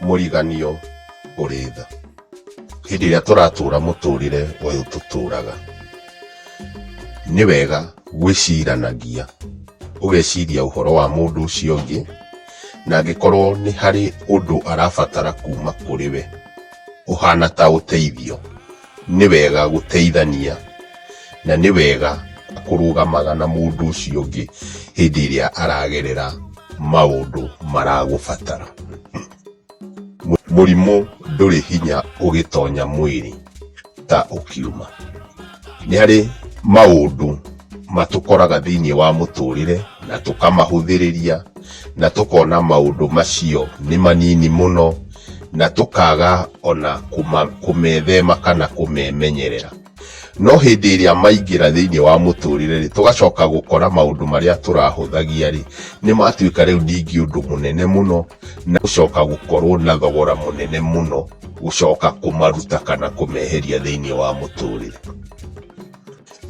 mũriganio ũrĩ tha hĩndĩ ĩrĩa tũratũra mũtũrĩre ũyũ tũtũraga nĩ wega gwĩciranagia ũgeciria ũhoro wa mũndũ ũcio ũngĩ na angĩkorwo nĩ harĩ ũndũ arabatara kuma kũrĩ we ũhana ta ũteithio nĩ wega gũteithania na nĩ wega kũrũgamaga na mũndũ ũcio ũngĩ hĩndĩ ĩrĩa aragerera maũndũ maragũbatara. Mũrimũ ndũrĩ hinya ũgĩtonya mwĩrĩ ta ũkiuma. Nĩ harĩ maũndũ matũkoraga thĩinĩ wa mũtũrĩre na tũkamahũthĩrĩria na tũkona maũndũ macio nĩ manini mũno na tũkaga ona kũmethema kana kũmemenyerera. No hĩndĩ ĩrĩa maingĩra thĩinĩ wa mũtũrĩre rĩ, tũgacoka gũkora maũndũ marĩa tũrahũthagia rĩ, nĩ matuĩka rĩu ningĩ ũndũ mũnene mũno na gũcoka gũkorwo na thogora mũnene mũno gũcoka kũmaruta kana kũmeheria thĩinĩ wa mũtũrĩre.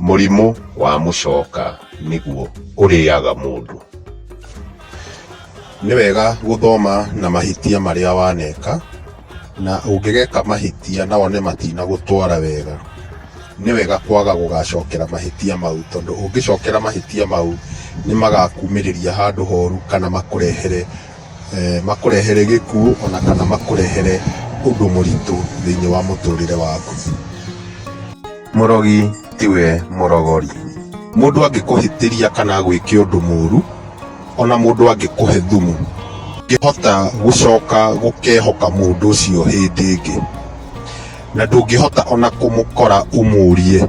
Mũrimũ wa mũcoka nĩguo ũrĩaga mũndũ. Nĩ wega gũthoma na mahĩtia marĩa waneka, na ũngĩgeka mahĩtia na wone matinagũtwara wega, nĩ wega kwaga gũgacokera mahĩtia mau, tondũ ũngĩcokera mahĩtia mau nĩ magakumĩrĩria handũ horu kana makũrehere eh, makũrehere gĩkuũ ona kana makũrehere ũndũ mũritũ thĩinĩ wa mũtũrĩre waku mũrogi tiwe mũrogori mũndũ angĩkũhĩtĩria kana gwĩke ũndũ mũru ona mũndũ angĩkũhe thumu ngĩhota gũcoka gũkehoka mũndũ ũcio hĩndĩ ĩngĩ na ndũngĩhota ona kũmũkora ũmũrie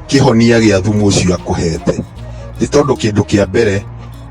kĩhonia gĩa thumu ũcio akũhete nĩ tondũ kĩndũ kĩa mbere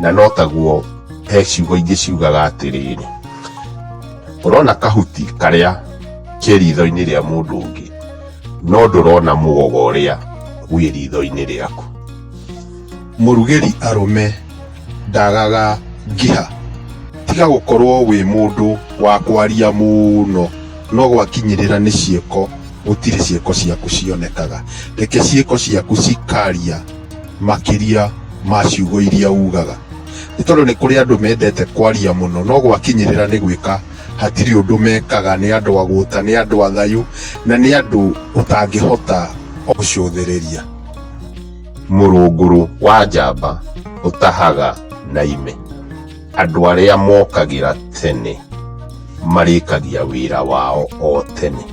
Na no taguo he ciugo ingĩ ciugaga atĩrĩrĩ, ũrona kahuti karĩa ke ritho-inĩ rĩa mũndũ ũngĩ, no ndũrona mũgogo ũrĩa wĩ ritho-inĩ rĩaku. Mũrugĩri arũme ndagaga ngĩha. Tiga gũkorwo wĩ mũndũ wa kwaria mũno, no gwakinyĩrĩra nĩ ciĩko gũtirĩ ciĩko ciaku cionekaga. Reke ciĩko ciaku cikaria. makĩria ma ciugo iria ugaga nĩ tondũ nĩ kũrĩ andũ mendete kwaria mũno no gwakinyĩrĩra nĩ gwĩka hatirĩ ũndũ mekaga nĩ andũ agũta nĩ andũ athayu na nĩ andũ ũtangĩhota gũcũthĩrĩria mũrũngũrũ wa njamba ũtahaga na ime Andũ arĩa mokagĩra tene marĩkagia wĩra wao o tene.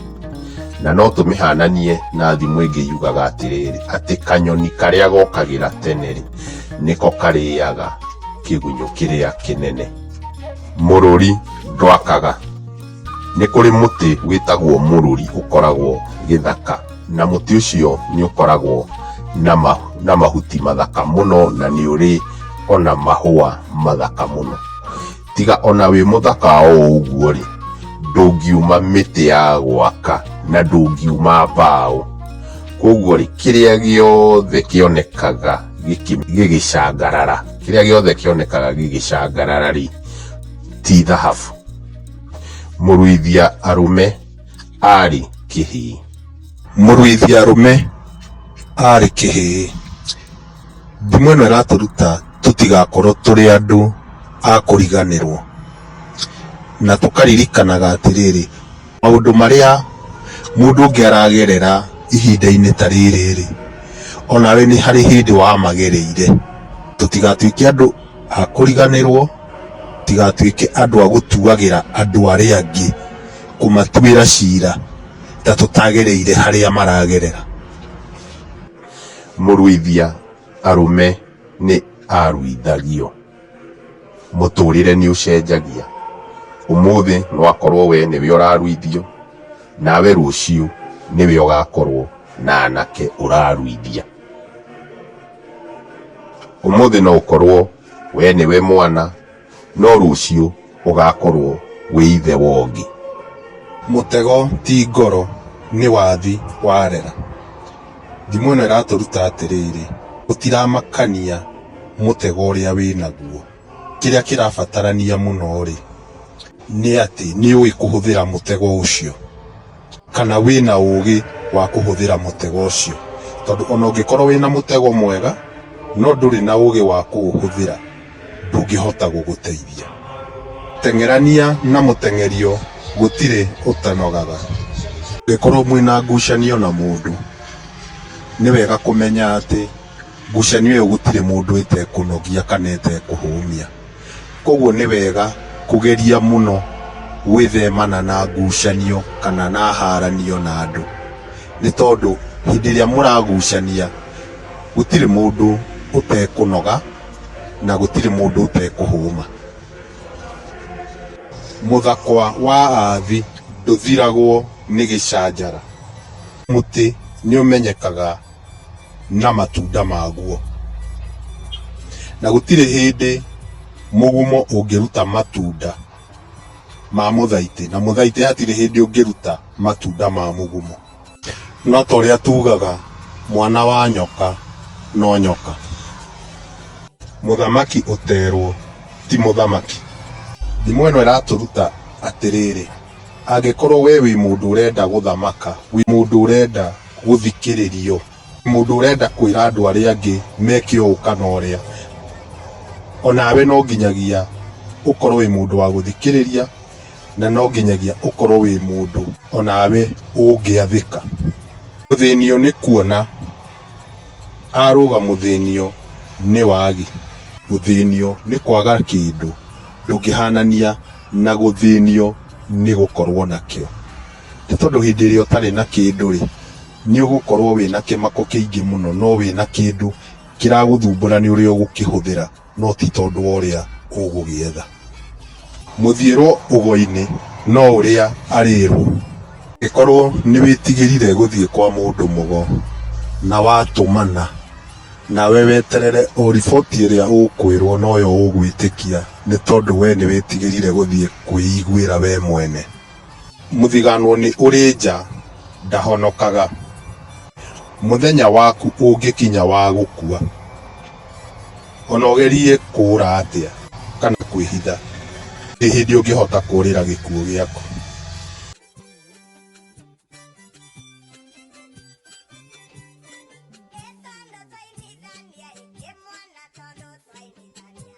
Na no tũmĩhananie na thimũ ĩngĩ yugaga atĩrĩrĩ, atĩ kanyoni karĩa gokagĩra tene rĩ, nĩko karĩaga kĩgunyũ kĩrĩa kĩnene. Mũrũri ndwakaga. Nĩ kũrĩ mũtĩ wĩtagwo mũrũri ũkoragwo gĩthaka, na mũtĩ ũcio nĩ ũkoragwo na ma, na mahuti mathaka mũno na nĩ ũrĩ ona mahũa mathaka mũno. Tiga ona wĩ mũthaka o ũguo rĩ, ndũngiuma mĩtĩ ya gwaka na ndũngiuma mbaũ. Koguo rĩ, kĩrĩa gĩothe kĩonekaga gĩkĩ, gĩgĩcangarara, kĩrĩa gĩothe kĩonekaga gĩgĩcangarara rĩ, ti thahabu. Mũruithia arũme aarĩ kĩhĩĩ. Mũruithia arũme aarĩ kĩhĩĩ. Thimo ĩno ĩratũruta tũtigakorwo tũrĩ andũ a kũriganĩrwo, na tũkaririkanaga atĩrĩrĩ, maũndũ marĩa mũndũ ũngĩ aragerera ihinda-inĩ ta rĩrĩ-rĩ, o nawe nĩ harĩ hĩndĩ wamagereire. Tũtigatuĩke andũ a kũriganĩrwo. Tũtigatuĩke andũ a gũtuagĩra andũ arĩa angĩ, kũmatuĩra ciira ta tũtagereire harĩa maragerera. Mũruithia arũme nĩ aruithagio. Mũtũrĩre nĩ ũcenjagia. Ũmũthĩ no akorwo we nĩwe ũraruithio, nawe rũciũ nĩwe ũgakorwo na anake ũraruithia. Ũmũthĩ no ũkorwo Wee nĩwe mwana, no rũciũ ũgakorwo wĩ ithe wa ũngĩ. Mũtego ti ngoro, nĩ wathi warera. Thimo ĩno ĩratũruta atĩrĩrĩ, gũtiramakania mũtego ũrĩa wĩnaguo. Kĩrĩa kĩrabatarania mũno-rĩ, nĩ atĩ nĩũĩ kũhũthĩra mũtego ũcio. kana wĩna ũũgĩ wa kũhũthĩra mũtego ũcio. Tondũ ona ũngĩkorwo wĩna mũtego mwega, no ndũrĩ na ũũgĩ wa kũũhũthĩra, ndũngĩhota gũgũteithia. Teng'erania na mũteng'erio gũtirĩ ũtanogaga. Angĩkorwo mwĩna ngucanio na mũndũ, nĩ wega kũmenya atĩ ngucanio ĩyo gũtirĩ mũndũ ĩtekũnogia kana ĩtekũhũmia. Kwoguo nĩ wega kũgeria mũno gwĩthemana na ngucanio kana na haranio na andũ, nĩ tondũ hĩndĩ ĩrĩa mũragucania gũtirĩ mũndũ ũtekũnoga na gũtirĩ mũndũ ũtekũhũma. Mũthakwa wa athi ndũthiragwo nĩ gĩcanjara. Mũtĩ nĩ ũmenyekaga. na matunda maguo. Na gũtirĩ hĩndĩ mũgumo ũngĩruta matunda ma mũthaitĩ, na mũthaitĩ hatirĩ hĩndĩ ũngĩruta matunda ma mũgumo. No ta ũrĩa tugaga mwana wa nyoka no nyoka. Mũthamaki ũterwo ti mũthamaki. Thimo ĩno ĩratũruta atĩrĩrĩ, angĩkorwo we wĩ mũndũ ũrenda gũthamaka, wĩ mũndũ ũrenda gũthikĩrĩrio. Mũndũ ũrenda kwĩra andũ arĩa angĩ meke ũũ kana ũrĩa, o nawe no nginyagia ũkorwo wĩ mũndũ wa gũthikĩrĩria, na no nginyagia ũkorwo wĩ mũndũ o nawe ũngĩathĩka. Mũthĩnio nĩ kuona, arũga mũthĩnio nĩ wagi. Gũthĩnio nĩ kwaga kĩndũ, ndũngĩhanania na gũthĩnio nĩ gũkorwo nakĩo. Nĩ tondũ hĩndĩ ĩrĩa ũtarĩ na kĩndũ-rĩ, nĩ ũgũkorwo wĩna kĩmako kĩingĩ mũno no wĩna kĩndũ kĩragũthumbũra nĩ ũrĩa ũgũkĩhũthĩra no ti tondũ wa ũrĩa ũgũgĩetha. Mũthiĩrwo ũgo-inĩ no ũrĩa arĩĩrwo. Angĩkorwo nĩ wĩtigĩrire gũthiĩ kwa mũndũ mũgo na watũmana nawe weterere o riboti ĩrĩa ũkwĩrwo noyo ũgwĩtĩkia nĩ tondũ we nĩ wĩtigĩrire gũthiĩ kwĩiguĩra we mwene. Mũthiganwo nĩ ũrĩ nja ndahonokaga. Mũthenya waku ũngĩkinya wa gũkua, o na ũgerie kũũra atĩa kana kwĩhitha, ndĩ hĩndĩ ũngĩhota kũũrĩra gĩkuũ gĩaku.